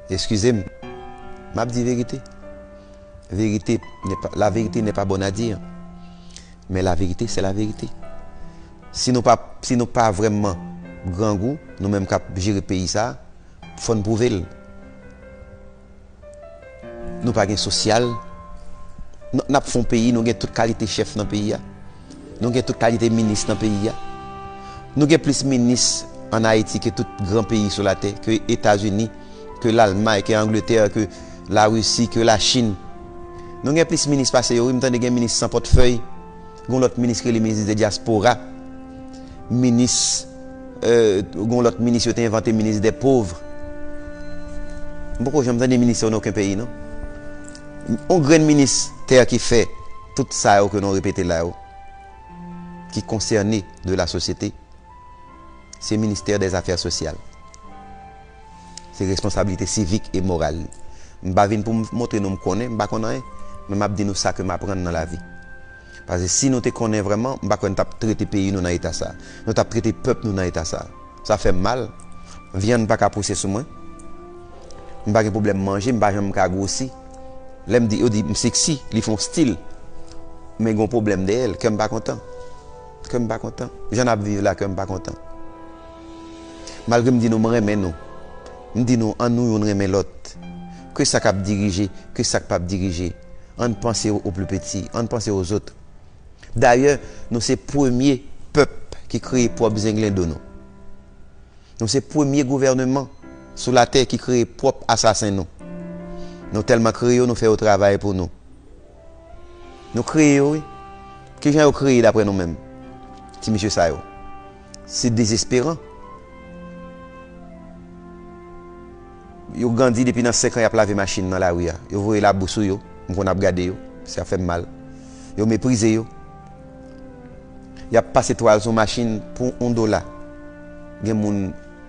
Eskize m, m ap di verite. Verite, la vérité n'est pas bonne à dire, men la vérité c'est la vérité. Si nou pa, si nou pa vrèman grangou, nou menm k ap jere peyi sa, fò n pwouve l. Nou pa gen sosyal, n ap fè yon peyi, nou gen tout kalite chèf nan peyi a. Nou gen tout kalite minis nan peyi a. Nou gen plis minis an Ayiti ke tout gran peyi sou latè, ke Etazini, ke Lalmay, ke Angletè, ke Larisi, ke Lachin. Nou gen plis minis pase yo wi. M tande gen minis san pòtfèy, gen yon lòt minis ki rele minis de dyaspora. Minis Gon lòt minis yo te envante minis dè pov M poko janm tande minis sa yo nan oken peyi non On grenn minis tè ki fè tout sa yo ke nou repete la yo ki konsène de la sosyete se ministè dè zafè sosyal se responsabilite sivik e moral li M pa vin pou m montre nou m konnen m pa konn anyen men m ap di nou sa ke m aprann nan lavi. Paske si nou te konnen vrèman, m pa kwè n t ap trete peyi nou nan eta sa. Nou t ap trete pèp nou nan eta sa. Sa fè m mal. Vyann pa ka pouse sou mwen. M pa gen pwoblèm manje. M pa janm ka gwosi. Lè m di, yo di m seksi. Li fè yon stil. Men gen yon pwoblèm dèyè l. Kè m pa kontan. Kè m pa kontan. Jan n ap viv la, kè m pa kontan. Malgre m di nou m renmen nou. M di nou annou youn renmen lòt. Ke sa k ap dirije, ke sa k pap dirije, ann panse o pli peti, ann panse o zot. Dayè, nou se premye pèp ki kreye pwòp zenglendo nou. Nou se premye gouvèneman sou latè ki kreye pwòp asasen nou. Nou tèlman kreye yo, nou fè yo travay pou nou. Nou kreye yo wi. Kijan yo kreye daprè nou menm? Ti mesye sa yo. Se dezesperan. Yo grandi depi nan 5 an yap lave machin nan lari a. Yo voye labou sou yo. M konn ap gade yo. Sa fèm mal. Yo meprize yo. Yap pase twal sou machin pou 1 dola. Gen moun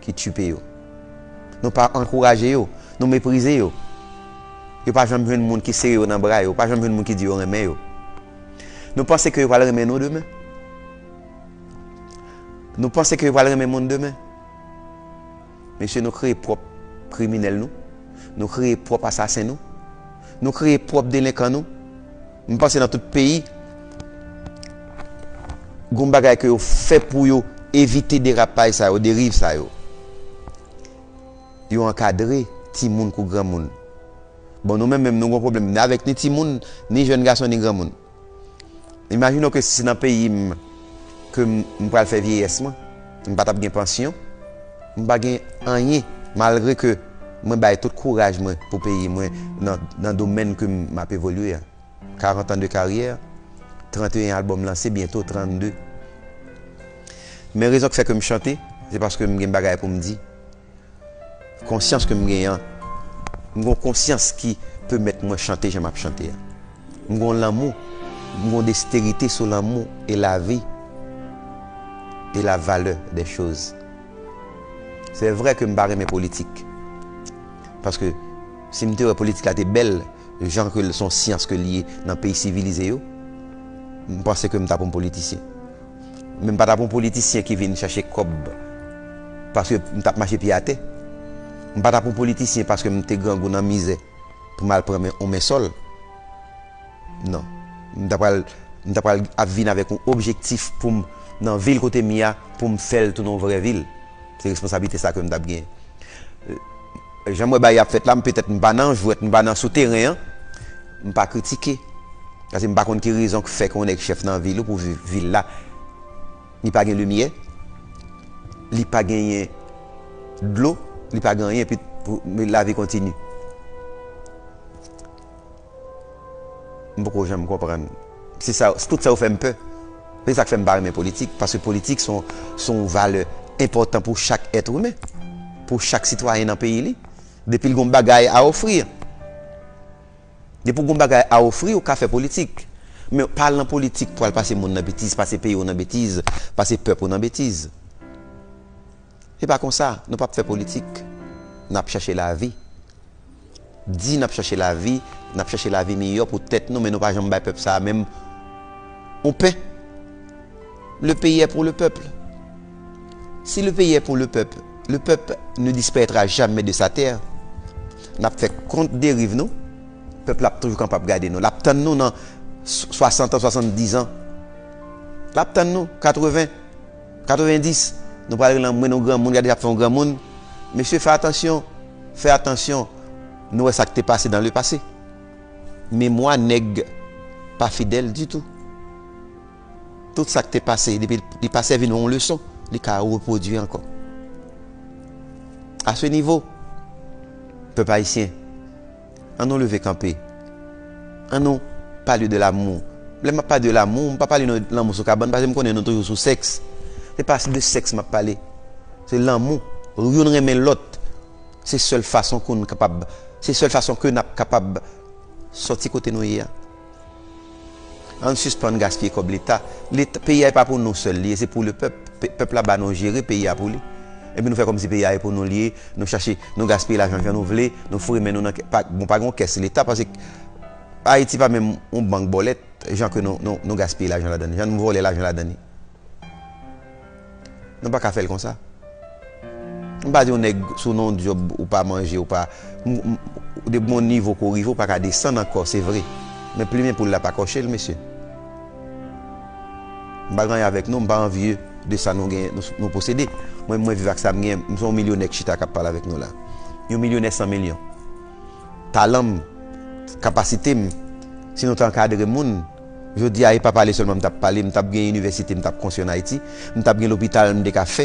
ki tchipe yo. Nou pa ankouraje yo. Nou meprize yo. Yo pa janm jwenn moun ki sere yo nan bra yo. Pa janm jwenn moun ki di yo renmen yo. Nou panse ke yo pral renmen nou demen? Nou panse ke yo pral renmen moun demen? Mesye nou kreye pwòp kriminèl nou. Nou kreye pwòp asasen nou. Nou kreye pwòp delenkan nou. M panse nan tout peyi gon bagay ke yo fè pou yo evite derapaj sa yo, deriv sa yo. Yo ankadre timoun kou granmoun. Bon nou menm menm nou gon pwoblèm ni avèk ni timoun, ni jèn gason, ni granmoun. Imajine w ke si se nan peyi m ke m pral fè vyeyès mwen. M pa tap gen pansyon, m pa gen anyen malgre ke mwen bay tout kouraj mwen pou peyi mwen nan domèn ke m ap evolye a. 40 ans de carrière, 31 album lanse, byento 32. Men rezon k fè ke m chante, se paske m gen bagay pou m di. Konsyans ke m gen an, m gon konsyans ki pemèt mwen chante jan m ap chante a. M gon lanmou, m gon desterite sou lanmou e lavi e la valè dè choz. Se vre ke m pa renmen politik, paske si m te wè politik la te bèl jan ke l son syans ke l ye nan peyi sivilize yo, m panse ke m ta pou m politisyen. Men m pa t ap yon politisyen ki vin chache kòb paske m t ap mache pye atè. M pa t ap yon politisyen paske m te grangou nan mizè pou m al pran yon men sòl. Non. M ta pral, m ta pral ap vin avèk yon objektif pou m, nan vil kote m ye a, pou m fè l tounen yon vrè vil. Se responsablite sa a ke m t ap genyen. Jan m wè bagay ap fèt la, m petèt m pa nan jwèt, m pa nan sou teren an, m pa kritike. Paske m pa konn ki rezon k fè ke yon nèg chèf nan vil ou pou vil la, li pa gen limyè, li pa genyen dlo, li pa gen anyen, epi lavi kontini. M poko janm konprann. Se sa, tout sa yo fè m pè. Se sa k fè m pa renmen politik. Paske politik s on, s on valè enpòtan pou chak èt imen. Pou chak sitwayen nan peyi li. Depi l gen yon bagay a ofri. Depi w gen yon bagay a ofri, ou ka fè politik. Men pa al nan politik pou al pase moun nan betiz, pase peyi w nan betiz, pase pèp ou nan betiz. Se pa konsa nou pap fè politik nap chache lavi di nap chache lavi nap chache lavi miyò pou tèt nou men nou pa janm bay pèp sa menm yon pen le peyi è pou le pèp si le peyi è pou le pèp le pèp ne disparètra jamè de sa tè nap fè kont deriv nou pèp la ap toujou kapab gade nou lap tann nou nan 60 an 70 an lap tann nou 80. 90, Nou pral rele anmwey yon granmoun gade ap fè yon granmoun Mesye fè atansyon, fè atansyon Nou wè sak te pase dan le pase Memwa nèg pa fidèl ditou Tout sak te pase depi li pa sèvi nou yon leson li ka repwodui ankò A se nivo Pèp ayisyen. An nou leve kanpe An nou pale de lamou Lè m ap pale de lamou M pa pale de lanmou sou kabann Paske m konnen nou toujou sou sèks Se pa de sèks m ap pale Se lanmou Youn renmen lòt Se sèl fason ke nou kapab Se sèl fason ke n ap kapab Sòti kote nou ye a. Ann sispann gaspiye kòb leta, leta peyi a epa pou nou sèl li ye se pou le pèp, pèp la ba nou jere peyi a pou li epi nou fè kòmsi peyi a e pou nou li ye, nou chache nou gaspiye lajan jan nou vle, nou foure men nou nan kè, bon pa gen yon kès leta paske Ayiti pa menm yon bank bòlèt jan ke nou gaspiye lajan ladann, jan nou vòlè lajan ladann. Nou pa ka fèl konsa. M pa di yon nèg sou non dyob ou pa manje ou pa depi gon nivo ke w rive ou pa ka desann ankò se vre men plimen poul la pa kòche l mesye. M pa gen anyen avèk nou m pa anvye de sa nou gen nou posede mwen menm mwen viv ak sa m gen m se yon milyonè k chita k ap pale avèk nou la yon milyonè san milyon talan m kapasite m si nou te ankadre moun Jodi a, e pa pale sèlman m t ap pale, m t ap gen inivèsite m t ap konstwi ann Ayiti, m t ap gen lopital m te ka fè,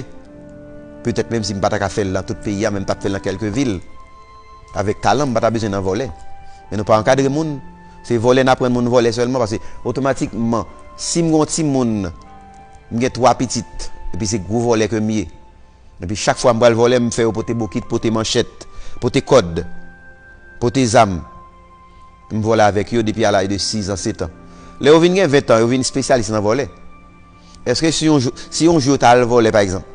petèt menm si m pa ta ka fè l nan tout peyi a men m t ap fè l nan kèlke vil avèk talan m pa ta bezwen nan vòlè. Men nou pa ankadre moun, se vòlè n aprann moun vòlè sèlman paske otomatikman si m gen yon timoun, m gen 3 pitit epi se gwo vòlè ke m ye epi chak fwa m pral vòlè m fè yo pote bokit, pote manchèt, pote kòd, pote zam. M vole avèk yo depi a laj de 6 an, 7 an. Lè yo vin gen 20 an, yo vin spesyalis nan vole. Eske si yon jou, si yon jou yo ta al vole pa egzanp,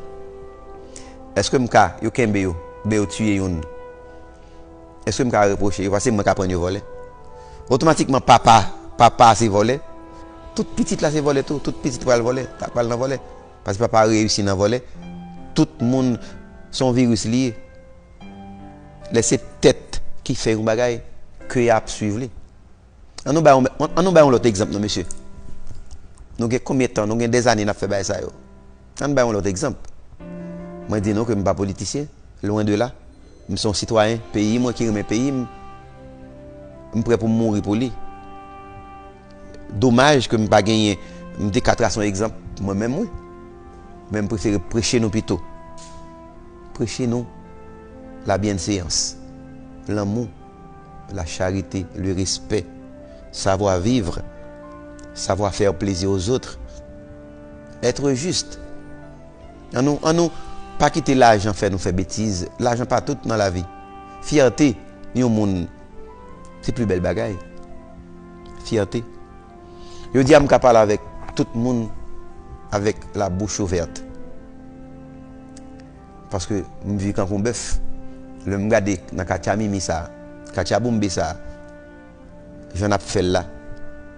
eske m ka, yo kenbe yo, oubyen yo tiye youn, eske m ka repwoche yo pase mwen k aprann yo vole? Otomatikman papa, papa a se vole, tout pitit la se vole tou, tout pitit pral vole, ta pral nan vole. Pase papa a reyisi nan vole, tout moun, s on viris li ye. Lè se tèt ki fè yon bagay, ke a ap swiv li. An nou bay, an nou bay yon lòt egzanp non mesye. Nou gen konbyen tan, nou gen dè zane n ap fè bagay sa yo. An nou bay yon lòt egzanp. Mwen di nou ke m pa politisyen, lwen de la. M se yon sitwayen peyi mwen ki renmen peyi m. M prè pou m mouri pou li. Domaj ke m pa genyen m te ka trase yon egzanp mwen menm wi. Men m prefere preche nou pito. Preche nou la byenseyans, lanmou, la charite, le respè, savwa vivre, savwa faire plaisir aux autres, être juste. An nou an nou pa kite lajan fè nou fè betiz. Lajan pa tout nan lavi. Fyète yon moun se pli bèl bagay. Fyète. Jodi a m ka pale avèk tout moun avèk la bouch ouvèt. Paske m viv tankou yon bèf. Lè m gade nan katya mimi sa, katya boumbe sa, jan n ap fè l la,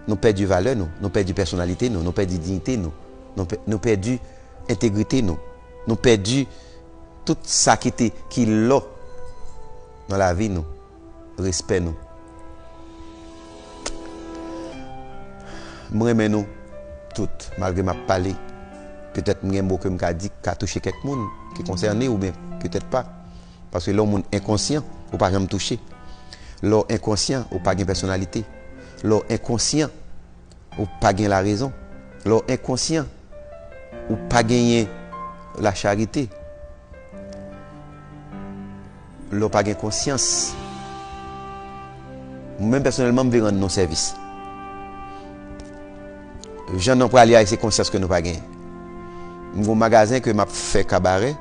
nou pèdi valè nou, nou pèdi pèsonalite nou, nou pèdi diyite nou, nou pèdi entegrite nou, nou pèdi tout sa ki te ki lò nan lavi nou. respè nou m renmen nou tout malgre map pale petèt m gen mo kem ka di ki ka touche kèk moun ki konsène oubyen petèt pa paske lè yon moun enkonsyan ou pa janm touche lè w enkonsyan ou pa gen pèsonalite lè w enkonsyan ou pa gen la rezon lè w enkonsyan ou pa genyen la charite. Lè w pa gen konsyans, mwen menm pèsonèlman m vle rann nou sèvis. Jan non prale a se konsyans ke nou pa genyen. M gen yon magazen ke m ap fè kabarè,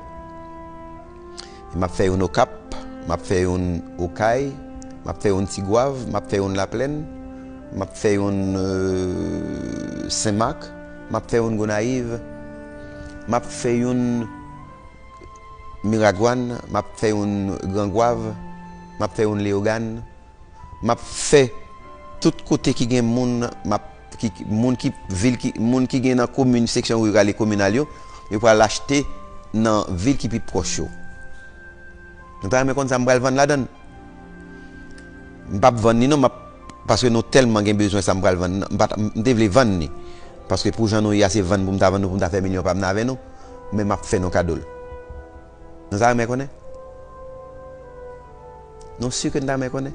m ap fè youn Okap, m ap fè youn Okay, m ap fè youn Tigwav, m ap fè youn Laplèn, m ap fè youn Senmak, m ap fè youn Gonayiv, m ap fè youn. Miragwàn, m ap fè youn Grangwav, m ap fè youn Leyogàn, m ap fè tout kote ki gen moun, m ap, ki, moun ki, vil ki, moun ki gen nan komin, seksyon riral e kominal yo, yo pral achte nan vil ki pi pwòch yo. Nou ta renmen konn sa m pral vann ladan l? M pap vann li non map paske nou tèlman gen bezwen sa m pral vann nan m pat m te vle vann li paske pou jan nou ye a se vann pou m ta vann nou pou m ta fè milyon pa m nan avè nou men map fè nou kado l Nou ta renmen konnen? Nou si ke n ta renmen konnen?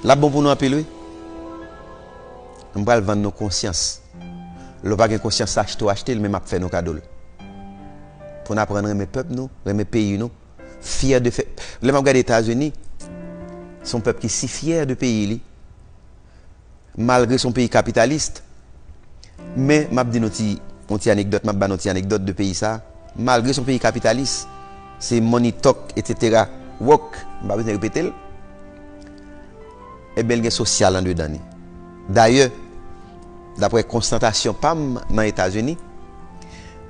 Lap bon pou nou anpil wi M pral vann nou konsyans Lè w pa gen konsyans achte w achte l men map fè nou kado l Pou n aprann renmen pèp nou renmen peyi nou fyè de fè lè map gade etazini son pèp ki si fyè de peyi li malgre son peyi kapitalist men map di nou ti yon ti anekdòt map ba nou ti anekdòt de peyi sa malgre son peyi kapitalis se money talk etc work m pa bezwen repetel ebyen l gen sosyal andedan li dayè Dapre konstatasyon pa m nan Etazini,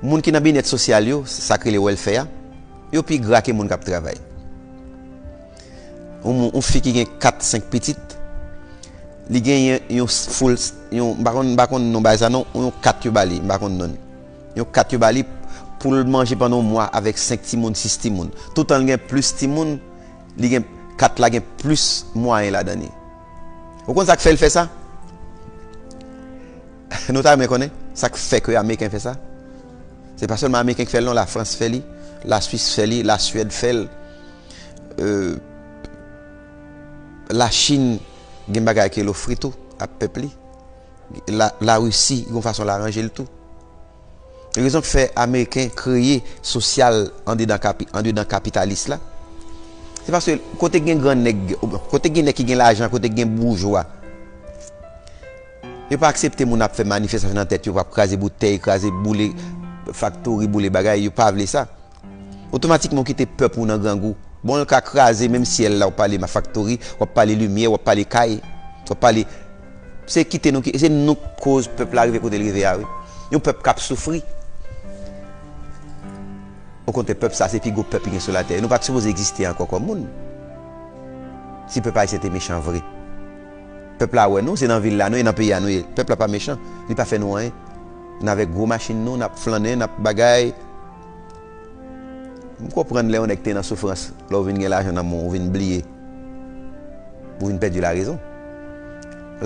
moun ki nan byenet sosyal yo, sa k rele wèlfè a, yo pi gra ke moun k ap travay. Yon fi ki gen 4, 5 pitit, li genyen yon foul, yon, m pa konn, m pa konn non bagay sa non, yon kat yo ba li, m pa konn non li. Yon kat yo ba li pou l manje pandan yon mwa avèk 5 timoun, 6 timoun. Toutan l gen plis timoun, li gen, kat la gen plis mwayen ladan li. Ou konn sak fèl fè sa? Nou ta renmen konnen sak fè ke Ameriken fè sa? Se pa sèlman Ameriken ki fèl non, la Frans fè li, la Swis fè li, la Swèd fèl, euh, la Chine gen bagay ke l ofri tou a pèp li, la Russie gon fason l aranjel tou. Rezon k fè ameriken kreye sosyal andedan kapitalis la, se paske kote gen gran nèg, kote gen nèg ki gen lajan, kote gen boujwa, yo pa aksepte moun ap fè manifestasyon nan tèt yo, ap kraze boutèy, kraze, boule faktori, boule bagay, yo pa vle sa. Otomatikman ou kite pèp ou nan grangou. Bon l ka kraze menm syèl la ou pale ma faktori, wap pale limyè, wap pale kay, wap pale Se kite nou ki, se nou k koz pèp la rive kote l rive a wi. Yon pèp kap soufri. Okontrè pèp sa se pi gwo pèp ki gen sou latè. Nou pat sipoze egziste ankò kòm moun. Si pèp ayisyen te mechan vre. Pèp la wè nou, se nan vil la nou ye, nan peyi a nou ye. Pèp la pa mechan, li pa fè nou anyen. N avèk gwo machin nou, nap flannen, nap bagay. M konprann lè yon nèg te nan soufrans, lè w vin gen lajan nan men w, ou vin bliye. Ou vin pèdi larezon.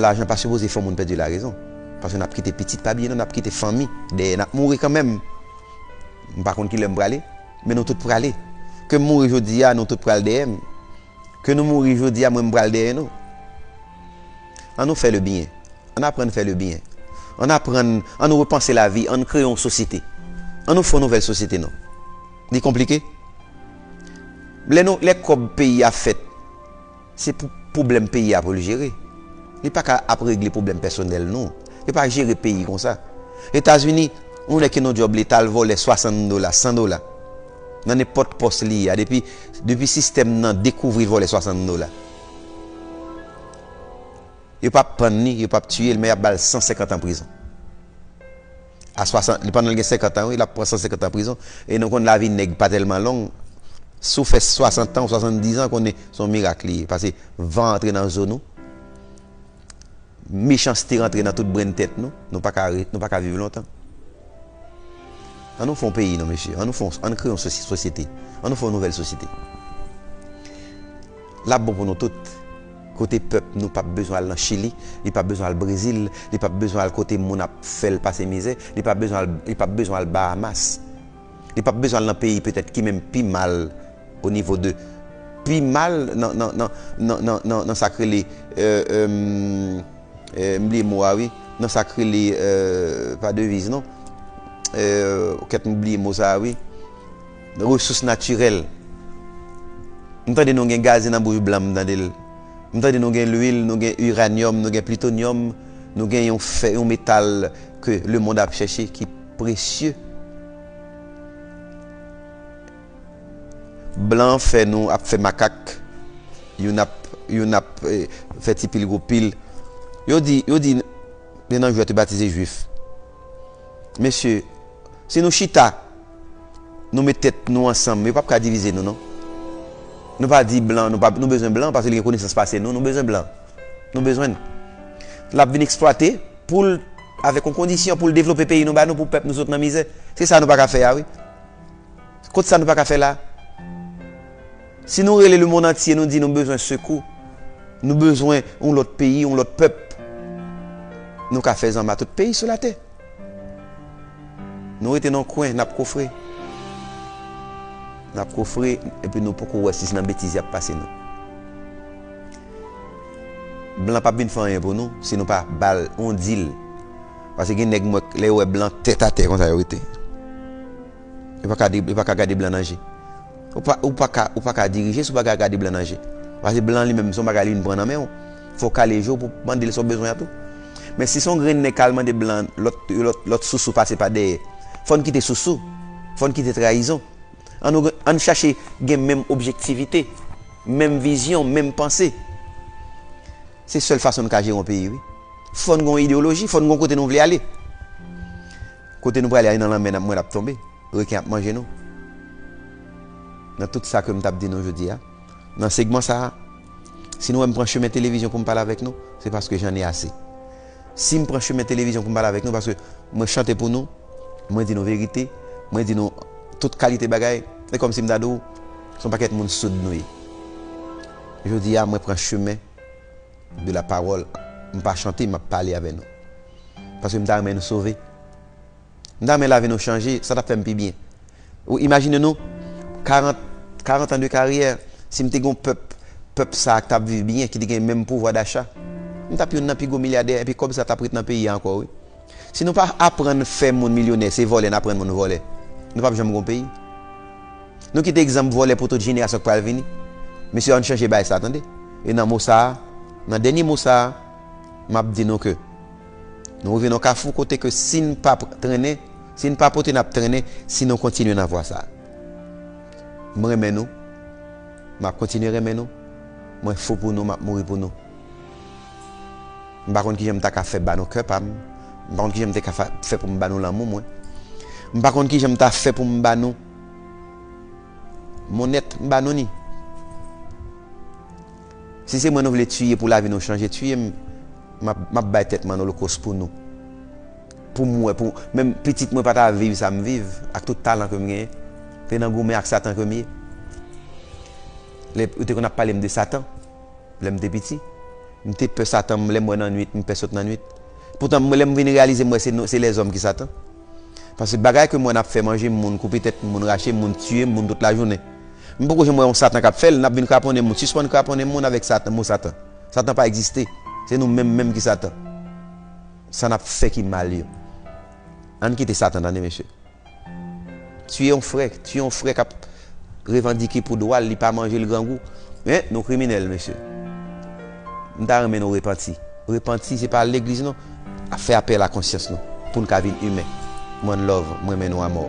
Lajan pa sipoze fè yon moun pèdi larezon. Paske n ap kite pitit. Pa bliye non, n ap kite fanmi dèyè. N ap mouri kanmenm. M pa konn ki lè m prale. Men nou tout prale. Ke m mouri jodi a, nou tout pral dèyè m. Ke nou mouri jodi a, mwen m pral dèyè nou. An nou fè le byen. An n aprann fè le byen. An n aprann, an nou repanse lavi, an n kreye yon sosyete. An nou fè yon nouvèl sosyete non. Li konplike? Lè nou, lè kòb peyi a fèt, se pou pwoblèm peyi a pou l jere. Li pa ka ap regle pwoblèm pèsonèl nou. Yo pa jere peyi konsa. Etazini, yon nèg ki nan yon djòb leta al vòlè 60 dola, 100 dola, nan nenpòt pòs li ye a, depi, depi sistèm nan dekouvri l vòlè 60 dola. Yo pap pann li, yo pap tiyel men yap bal 150 an prizon a 60 li pandanl gen 50 an wi lap pran 150 an prizon e nou konn lavi nèg pa tèlman long sou fè 60 an ou 70 an konnen son mirak li ye pase van antre nan zo nou. Mechanste rantre nan tout brenn tèt nou, nou pa ka nou pa ka viv lontan. An nou fè yon peyi non mesye, an nou fè yon, an nou kreye yon sosyete, an nou fè yon nouvèl sosyete. Lap bon pou nou tout. Kote pèp nou pap bezwen al nan Chili, li pap bezwen al Brezil, li pap bezwen al kote moun ap fèl pase mizè, li pap bezwen al li pap bezwen al Bahamas. Li pap bezwen al nan peyi petèt ki menm pi mal o nivo de pi mal nan nan nan nan nan nan nan sak rele m bliye mo a wi nan sak rele pa deviz non kèt m bliye mo sa a wi resous natirèl m tande nou gen gaze nan bouch blan m tande l m tande nou gen lwil nou gen iranyòm nou gen plitonyòm nou gen yon fè yon metal ke lemond ap chèche ki Presye. Blan an fè nou ap fè makak, youn ap youn ap fè ti pil gwo pil. Yo di yo di youn nan jwè te batize jwif. Mesye, si nou chita, nou met tèt nou ansanm, yo p ap ka divize nou non. Nou pa di blan, nou pa nou bezwen blan paske li gen konesans pase nou, nou bezwen blan. Nou bezwen l. L ap vin eksplwate pou l. Avèk yon kondisyon pou l devlope peyi nou ba nou pou pèp nou sot nan mizè. Se sa nou pa ka fè a wi. Kot sa nou pa ka fè la. Si nou rele le mond antye nou di nou bezwen sekou, nou bezwen yon lòt peyi, yon lòt pèp. Nou ka fè zanma tout peyi sou latè. Nou rete nan yon kwen, n ap kofre. N ap kofre epi nou poko wè si se nan betiz y ap pase nou. Blan pap vin fè anyen pou nou si nou pa bal yon dil pase gen nèg m wè lè yo wè blan tèt atè konsa yo rete yo paka di yo paka gade blan nan je ou paka ou paka dirije si ou pa gade blan nan je pase blan li menm son bagay li vin pran nan menw fòw kale jew pou mandel sa ou bezwen an tou men si son grenn nèg kal mande blan lòt lòt lòt sousou pase pa dèyè fòn kite sousou fòn kite trayizon. An n chache gen menm objektivite, menm vizyon, menm panse. Se sèl fason n ka jere yon peyi wi. Fò n gen yon ideyoloji, fò n gen yon kote nou vle ale. Kote nou prale a e nan lanmè n ap mwen n ap tonbe, reken ap manje nou. Nan tout sa ke m t ap di nou jodi a, nan segman sa a, si nou wè m pran chemen televizyon pou m pale avèk nou, se paske jan n e ase. Si m pran chemen televizyon pou m pale avèk nou paske mwen chante pou nou, mwen di nou verite, mwen di nou tout kalite bagay, se kòmsi m ta di w se yon pakèt moun soud nou ye. Jodi a mwen pran chemen de la pawòl, m pa chante, m ap pale avè nou. Paske m ta renmen nou sove. M ta renmen lavi nou chanje, sa t ap fè m pi byen. Ou imajine nou, 40, 40 ans de karyè, si m te gen yon pèp, pèp sa a k t ap viv byen, ki te gen menm pouvwa dacha, m t ap youn nan pi gwo milyadè epi kòb sa t ap ret nan peyi a ankò wi. Si nou pa aprann fè moun milyonè, se vòlè n aprann moun vòlè, nou p ap janm gon peyi. Nou kite egzanp vòlè pou tout jenerasyon k pral vini. Mesye ann chanje baay sa tande. E nan mo sa a, nan dènye mo sa a, m ap di nou ke. Nou rive nan kafou kote ke si n pa trennen, si n pa pote n ap trennen si nou kontinye nan vwa sa. M renmen nou, m ap kontinye renmen nou, mwen fou pou nou, m ap mouri pou nou. M pa konn kijan m ta ka fè ba nou kè pa m, m pa konn kijan m te ka fè pou m ba nou lanmou mwen, m pa konn kijan m ta fè pou m ba nou mon être, m ba nou ni. Si se mwen nou vle tuye pou lavi nou chanje tuye m map bay tèt m an olokos pou nou pou m wè pou menm pitit mwen pa ta viv sa m viv ak tout talan ke m genyen te nan goumen ak satan ke m ye lè yo te konn ap pale m de satan lè m te piti m te pè satan lè m wè nan nwit m pè sot nan nwit poutan lè m vin reyalize m wè se lèzòm ki satan. Paske bagay ke m wè nap fè manje moun, koupe tèt moun, rache moun, tiye moun tout lajounen. M poko janm wè yon satan kap fèl, nap vin kraponnen moun. Sispann kraponnen moun avèk satan, mo satan. Satan pa egziste. Se nou menm menm ki satan. Sa nap fè ki mal yo. Ann kite satan tande mesye. Tiye yon frè, tiye yon frè kap revandike pou dwal li pa manjel grangou men nou kriminèl mesye m ta renmen nou repanti repanti se pa al legliz non ap fè apèl a konsyans nou poun ka vin imen one love m renmen nou amò.